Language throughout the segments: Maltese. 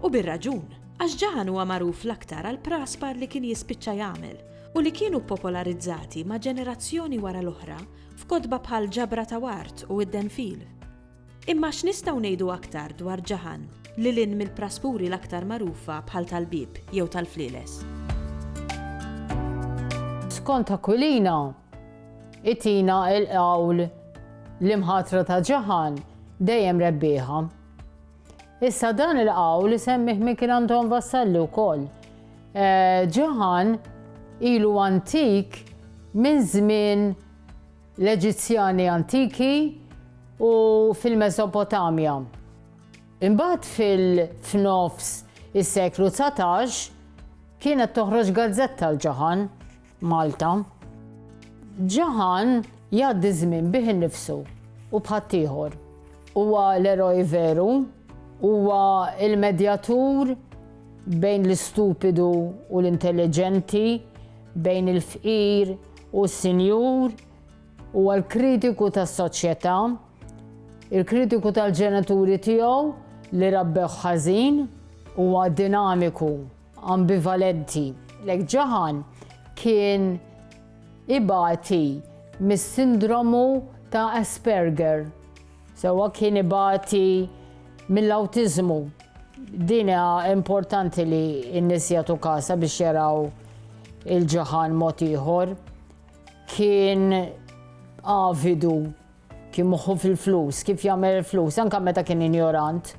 U bir-raġun, għax Ġaħan huwa magħruf l-aktar għall-praspar li kien jispiċċa jagħmel u li kienu ppopolarizzati ma' ġenerazzjoni wara l-oħra f'kotba bħal Ġabra ta' Ward u Id-Denfil. Imma x'nistgħu ngħidu aktar dwar Ġaħan lil hinn mill-praspuri l-aktar magħrufa bħal tal-Bieb jew tal-Flieles? Skont Aquilina, itina l-qawl l-imħatra ta' Ġaħan dejjem rebbieħa. Issa dan il-qawl isemmih minn kien Anton Vassalli wkoll. Eh, ġaħan ilu antik minn żmien l-Eġizzjani antiki u fil-Mesopotamja. Imbagħad fil-fnofs is-seklu 19 kienet toħroġ gazzetta l-ġaħan. Malta. Ġaħan jgħaddi ż-żmien bih innifsu u b'ħaddieħor. Huwa l-eroj veru, huwa l-medjatur bejn l-istupidu u l-intelliġenti, bejn il-fqir u s-sinjur, huwa l-kritiku tas-soċjetà, il-kritiku tal-ġenituri tiegħu li rabbewh ħażin, huwa dinamiku, ambivalenti. Lek Jahan kien ibati mis-sindromu ta' Asperger, sewwa kien ibati mill-awtiżmu. Din hija importanti li n-nies jagħtu kasha biex jaraw il-Jahan mod ieħor. Kien avidu Kien moħħu fil-flus, kif jagħmel il-flus, anke meta kien injorant,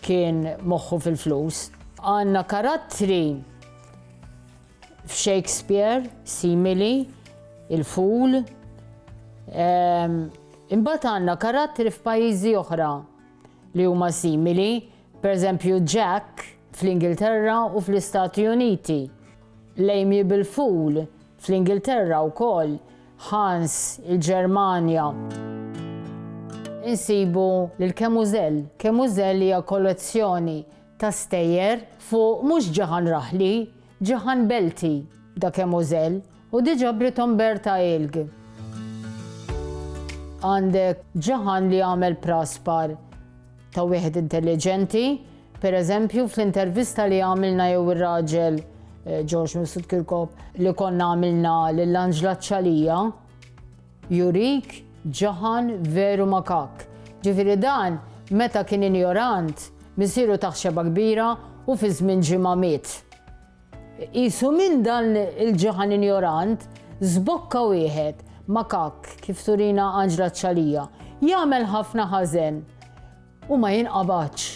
kien moħħu fil-flus. Għandna karattri f'Shakespeare simili, il-ful. Ehm, imbagħad għandna karattri f'pajjiżi oħra li huma simili, pereżempju Jack fl-Ingilterra u fl-Istati Uniti. L-amiable fool Fl-Ingilterra wkoll, Hans, il-Ġermanja. Insibu lil Kemużel. Kemużel hija kollezzjoni ta' stejjer fuq mhux ġaħan raħli, ġaħan belti da Kemużel u di ġabrithom Berta Ilg. Għandek ġaħan li għamel praspar Ta' wieħed intelliġenti, per eżempju, fl-intervista li għamilna jew ir-raġel eh, George Mifsud Kirkop li konna għamilna lil Angela Ċalija, jurik ġaħan veru makak. Ġifiri dan, meta kien injorant, misiru taħxeba kbira u fi żmien ġimgħa miet. Qisu minn dan il-ġeħan injorant, żbokka wieħed, makakk, kif turina Anġla Ċalija, jagħmel ħafna ħażen u ma jinqabadx.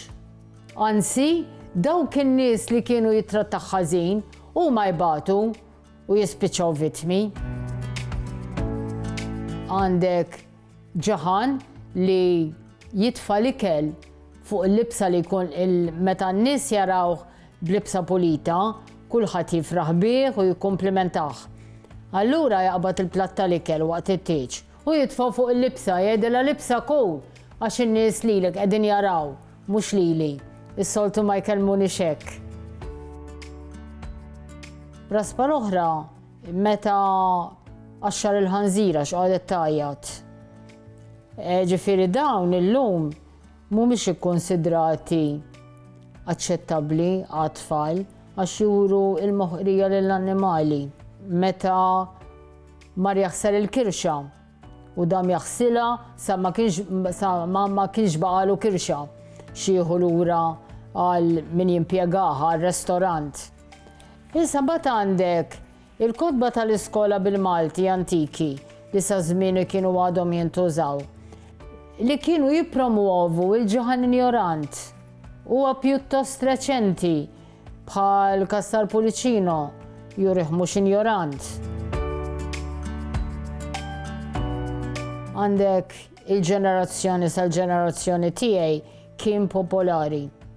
Anzi, dawk in-nies li kienu jittrattah ħażin huma jbatu u jispiċċaw vittmi. Għandek Ġaħan li jitfa' l-ikel fuq il-libsa li jkun meta n-nies jarawh b'libsa pulita, kulħadd jifraħ bih u jikkumplimentah. Allura jaqbad il-platt tal-ikel waqt it-tieġ u jitfgħu fuq il-libsa, jgħidilha libsa cool għax in-nies lilek qegħdin jaraw, mhux lili. Is-soltu ma jkellmunix hekk. Raspa l-oħra Meta qaxxar il-ħanżira x'qagħdet tgħajjat. E, ġifieri dawn illum mhumiex ikkonsidrati aċċettabbli għat-tfal għax juru il-moħqrija lill-annimali. Meta mar jaħsar il-kirxa u dam jaħsila sa ma kienx sa ma ma kienx baqalu kirxa xieħu lura għal min jimpjegaha għal restorant. Issa mbagħad għandek il-kotba tal-iskola bil-Malti antiki li sa żmieni kienu għadhom jintużaw, li kienu jippromwovu l-ġuħan injorant. Huwa pjuttost reċenti, bħall-każ tal-Pulicino, jurih mhux injorant. Għandek il-ġenerazzjoni sal-ġenerazzjoni tiegħi kien popolari.